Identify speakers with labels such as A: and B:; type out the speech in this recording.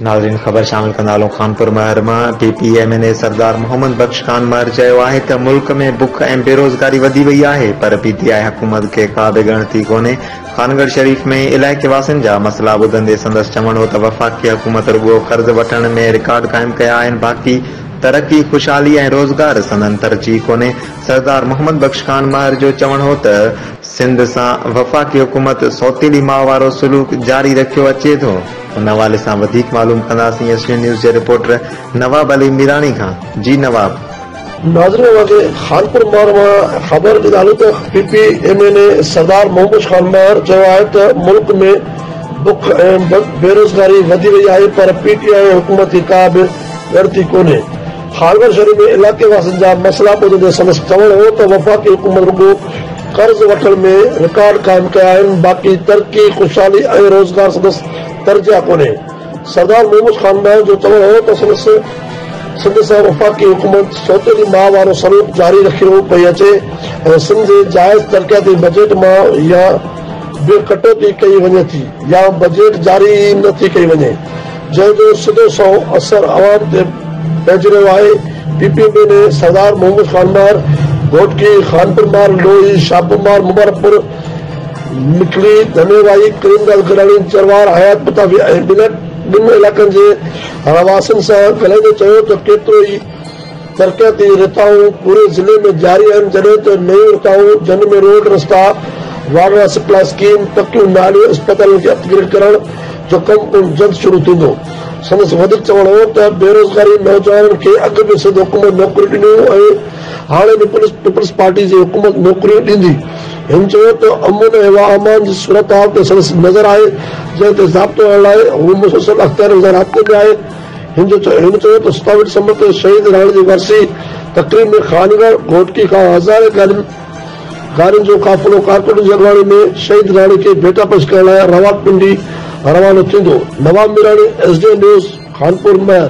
A: ناظرين خبر شامل ڪندا هلون خانپور مهر مان P P M N A Sardar Muhammad Bakhsh Khan Mahar چيو آهي ته ملڪ ۾ بک ۽ بيروزگاري وڌي وئي آهي پر پي ٽي آء حڪومت کي ڪا به ڳڻتي ڪونهي خانڳڙھ شريف ۾ علائقي واسين جا مسئلا ٻڌندي سندس چوڻ هو ته وفاقي حڪومت رڳو قرض وٺڻ ۾ رڪارڊ قائم ڪيا آهن باقي ترقي خوشحالي ۽ روزگار سندن ترجيح ڪونهي سردار محمد بخش خان مهر جو چوڻ هو ته سنڌ سان وفاقي حڪومت سوتيلي ماء وارو سلوڪ جاري رکيو اچي ٿو، ان حوالي سان وڌيڪ معلوم ڪنداسين ايس ٽي نيوز جي رپورٽر نواب علي ميراڻي کان، جي نواب. ناظرين اوهان
B: کي خانپور مهر مان خبر ڏي ڏالون ته P P M N A Sardar Muhammad Bakhsh Khan Mahar چيو آهي ته ملڪ ۾ بک ۽ بيروزگاري وڌي وئي آهي پر پي ٽي آء حڪومت کي ڪا به ڳڻتي ڪونهي هاربر شهر ۾ علائقي واسين جا مسئلا ٻڌندي سندس چوڻ هو ته وفاقي حڪومت رڳو قرض وٺڻ ۾ رڪارڊ قائم ڪيا آهن باقي ترقي، خوشحالي ۽ روزگار سندس ترجيح ڪونهي. سردار محمود خان مهر جو چوڻ هو ته سندس سنڌ سان وفاقي حڪومت سوتيلي ماء وارو سلوڪ جاري رکيو پئي اچي ۽ سنڌ جي جائز ترقياتي بجيٽ مان يا به ڪٽوتي ڪئي وڃي ٿي يا بجيٽ جاري ئي نه ٿي ڪئي وڃي. جنهن جو سڌو سنئون اثر عوام تي پئجي رهيو آهي، P P M N A Sardar Muhammad Khan مار، گهوٽڪي، خانپور مار، لوئي، شاهپور مار، مبارڪ پور، مڪلي، ڌني وائي، ڪريم داس گڏاڻي، چروار، حيات پتافي ۽ ٻن علائقن جي رهواسين سان ڳالهائيندي چيو ته ڪيترو ئي ترقياتي رٿائون پوري ضلعي ۾ جاري آهن جڏهن ته نيون رٿائون جن ۾ روڊ، رستا، واٽر سپلاء اسڪيم، پڪيون ناليون، اسپتالن کي اپ گريڊ ڪرڻ جو ڪم پڻ جلد شروع ٿيندو. سندس وڌيڪ چوڻ هو ته بيروزگاري نوجوانن کي اڳ به سنڌ حڪومت نوڪريون ڏنيون ۽ هاڻي به پيپلز پارٽي جي حڪومت نوڪريون ڏيندي. هن چيو ته امن ۽ امان جي صورتحال تي سندس نظر آهي جنهن تي ضابطو هڻڻ لاء هو مسلسل اختيارين سان رابطي ۾ آهي. هن جو چوڻ هو ته ستاويت سمت ۾ شهيد راڻي جي ورسي تقريب ۾ خانگهڙ گهوٽڪي کان هزارين گاڏين جو قافلو ڪارڪٽن جي اڳواڻي ۾ شهيد راڻي کي ڀيٽا پيش ڪرڻ لاء راولپنڊي روانو ٿيندو، Nawab Mirani, S D N news, Khanpur مهر.